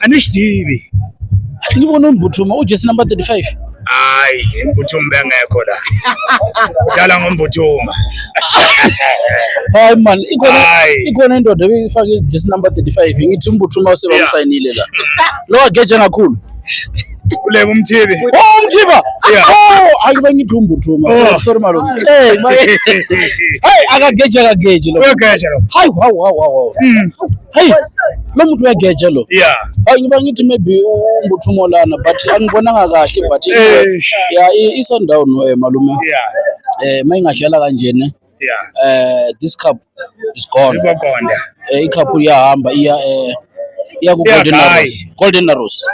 a ni xi tivi a ni voni mbuthuma u jesi number 35 hayi imbuthuma bengekho la udlala ngombuthuma hayi man ikhona Hayi. ikhona indoda ebifake jesi number 35 ngithi umbuthuma usebamsayinile la lo ageja kakhulu kuleka umthibi oh umthiba Yeah. oh hayi bengithi umbuthuma Oh. sorry sorry malume hey ma- hey akageja akageji lo uyogeja lo hayi wow wow wow wow Mm. Hey, lo muntu uyageja lo. Yeah. Hayi ngiba ngithi maybe umbuthungo lana but angibonanga kahle but yeah iso down eh malume. Yeah. Eh mayingadlala kanjena. Yeah. Eh this cup is gone. Izokonda. Eh icup iyahamba iya eh iya ku Golden Arrows. Golden Arrows.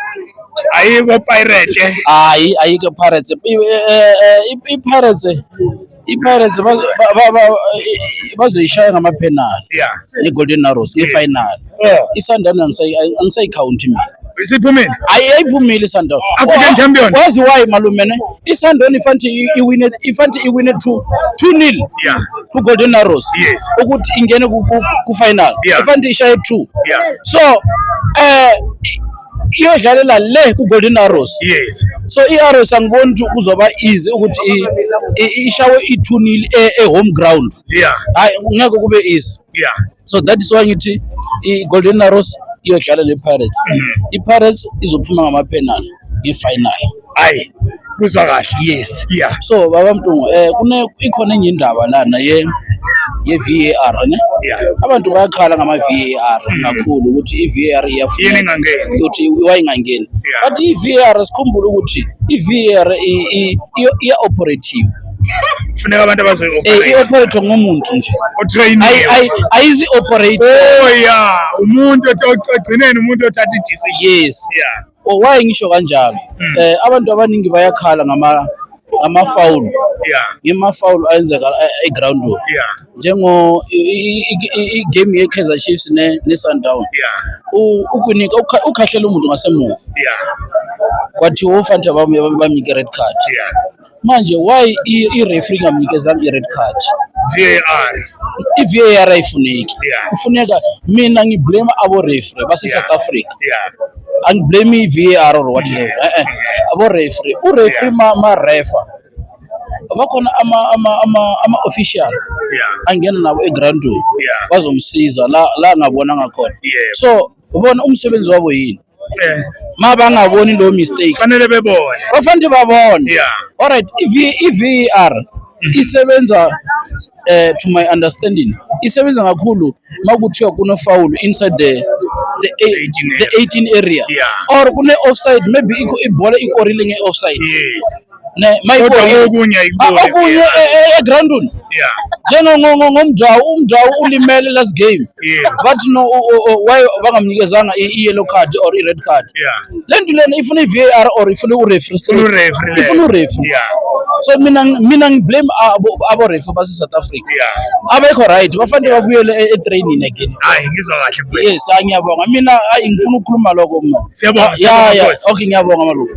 Ayiko Pirates. Hayi ayiko Pirates. I eh, eh, eh, Pirates IPirates bazoyishaya ngamaphenali yeah ne-Golden Arrows ngefinal. Yeah. ISundowns angisayi- angisayikhawunti mina. Isiphumile. Ayi ayiphumile iSundowns. African champion. Wazi why malume ne? ISundowns ifanti i- iwine ifanti iwine 2 2-0 Yeah. ku-Golden Arrows. Yes. Ukuthi ingene ku- ku- ku-final. Yeah. Ifanti ishaye 2. Yeah. So eh iyodlalela le ku-golden arrows yes so i-arrows angiboni ukuthi kuzoba easy ukuthi ishawe ithunile e-home ground yeah hayi ngeke kube easy yeah so that is why ngithi i-golden arrows iyodlala ne-pirates mm-hmm. i-pirates izophuma ngamapenal ngefinal hayi kuzwa kahle yes yeah so baba mtungu eh kune ikhona enye indaba lana ye ye VAR ne yeah abantu bayakhala ngama VAR mm. kakhulu ukuthi i VAR iyafuna yini ngangeni ukuthi wayingangeni but i VAR sikhumbula ukuthi i VAR i operative kufuneka abantu abazoyi-operate eh, i-operate ngumuntu nje ayizi-operate oh ya umuntu othi ogcineni umuntu othatha i-decision yes yeah Oh, why ngisho kanjalo hmm. eh abantu abaningi bayakhala ngama amafawulu ngemafawulu ayenzeka eh, eground work njengo igame ye-Kaizer Chiefs ne-Sundown ukunika ukhahlela umuntu ngasemuva kwathiwa ofanele bamnike red card manje why i-referee ngamnikezanga i-red card VAR i-VAR ayifuneki kufuneka mina ngiblame abo-referee base-South Africa angiblame i-var or whatever e-e aborefree urefree marefa bakhona ama-official angena nabo egroundini bazomsiza la ngabona ngakhona so ubona umsebenzi wabo yini eh. ma bangaboni lo mistake fanele bebone bafanele babone alright i-var mm-hmm. isebenza uh, to my understanding isebenza kakhulu makuthiwa kuno foul inside the the, the 18 area yeah. or kune offside maybe ibhola ikorile nge offside yes ne mayibona okunye ah, okunye egroundini eh, eh, eh, yeah njengo ngomjawu umjawu ulimele last game Yeah. but no o- o- o- why bangamnikezanga i- i-yellow card or i-red card Yeah. le nto lena ifuna i-var or ifuna urefri Ifuna urefri le. ifuna urefri Yeah. so mina ngi- mina ngiblame abo- aborefi base-south africa Yeah. abekho right bafanele babuyele e- etraining again Hayi ngizwa kahle mfowethu. yes hayi ngiyabonga mina ayi ngifuna ukukhuluma lokho mna Siyabonga, Ya, siyabonga, ya, Nkosi. okay ngiyabonga malunga